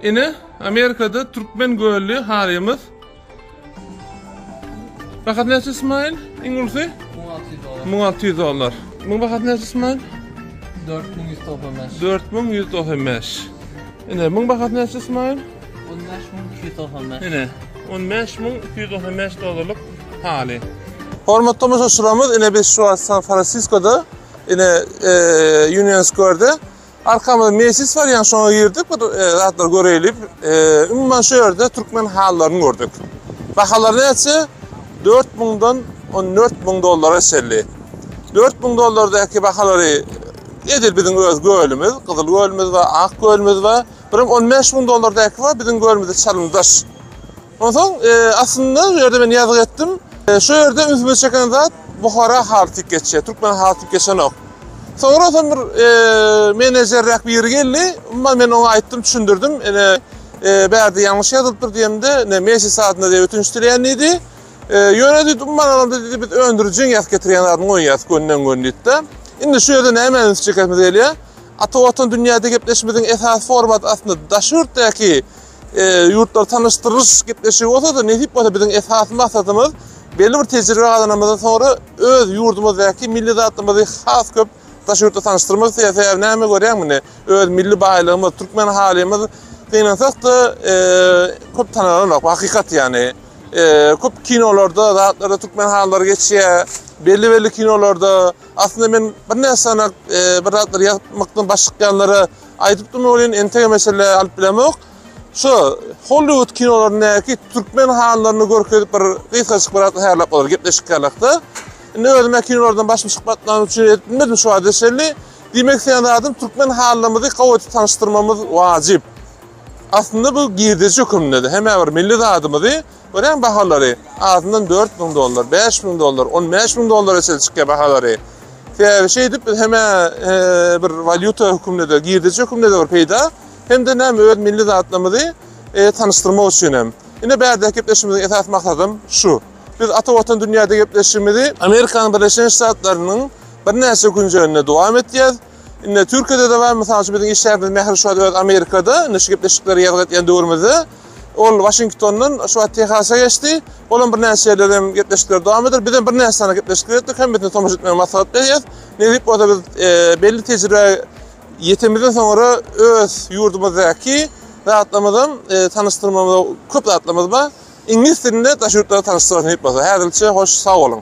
Ine, Amerikada türkmen gölli harymyz. Bahat näçe Ismail? Iň ulsy? 1600 dollar. 1600 dollar. Muň bahat näçe Ismail? 4195. 4195. Ine, muň bahat näçe Ismail? 15295. Ine, 15295 dollarlyk haly. Hormatly tomaşaçylarymyz, ine biz şu wagt San Fransiskoda, ine e, Union Square-de Arkamyzda mejlis bar, ýa şoňa girdik, bir zatlar göreýlik. Umuman şu ýerde türkmen halylaryny gördük. Bahalar näçe? 4000-dan 14000 dollara çenli. 4000 dollardaky bahalary edil biziň öz gölümiz, gyzyl gölümiz we ak gölümiz we bir 15000 dollardaky we biziň gölümizde çalymdaş. Onsoň aslynda bu ýerde men ýazgy etdim. Şu ýerde ünsümi çeken zat Buhara haly tik geçýär, türkmen haly tik geçenok. Soňra soň bir menejerräk biri geldi. Umuman men oňa aýtdym, düşündirdim. Ene bärde ýalňyş ýazylypdyr diýemde, ne mesi sadyna diýip ötünç dileýän diýdi. Ýöne diýdi, umuman alanda diýdi, biz öndürijiň ýazyp getirýän zadyny goýýas gönden-gön diýdi-de. Indi şu ýerde nämä üns çekesimiz gelýär? Ata Watan dünýäde gepleşimiziň esasy formaty aslynda daşy ýurtdaky e, ýurtlar tanyşdyryş gepleşigi bolsa da nesip bolsa biziň esasy maksadymyz belli bir tejribe gazanamyzdan sonra öz ýurdumyzdaky milli zatlymyzy has köp daş ýurtda tanyşdyrmak isleýär. Sebäbi näme görýän muny? Öz milli baýlygymyz, türkmen halymyz gynansak da e, köp tanalanok. Hakykat ýani. E, köp kinolarda, zatlarda türkmen hallary geçýär. Belli belli kinolarda aslynda men bir näçe sanak e, bir zatlar ýazmykdan başykýanlara Aýdyp durma welin entek meşelle alyp bilemok. Şu Hollywood kinolaryndaky türkmen hanlaryny görkezip bir gysgaçyk bir atly hälap bolar gepleşik hälakda. Indi özüme kinolardan başym çykmatlany üçin edip bilmedim şu wagtda şelli. Diýmek sen zadym türkmen hanlarymyzy gawaty tanşdyrmamyz wajyp. Aslynda bu girdeji höküminde de hemme bir milli zadymyzy Örän bahalary, azyndan dört müň dollar, bäş müň dollar, on bäş müň dollara çenli çykýar bahalary. Sebäbi şeýdip biz hemä bir walýuta höküminde, girdejä höküminde bir peýda, hem-de näme öz milli zatlarymyzy tanyşdyrmak üçin hem. Ine bärdäki gepleşigimiziň esasy maksadym şu. Biz Ata Watan dünýäde gepleşigimizi Amerikanyň Birleşen Ştatlarynyň birnäçe künjeginde dowam etýäs. Indi Türkiýede de bar, mysal üçin biziň işgärimiz Mähri şu wagt öz Amerikada, indi şu gepleşikleri ýazga etýän döwrümizde. Ol Waşingtondan şu wagt Tehasa geçdi. Ol hem birnäçe ýerler hem gepleşikleri dowam eder. Biz hem birnäçe sany gepleşikler etdik, hemmesini tomaşa etmegi maslahat berýäs. Nesip bolsa biz belli tejribä ýetemizden soňra öz ýurdumyzdaky zatlarymyzy hem tanyşdyrmagyň köp zatlarymyz bar. Iňlis dilinde daş ýurtlara tanyşdyraris nesip bolsa. Häzirlikçe hoş, sag boluň.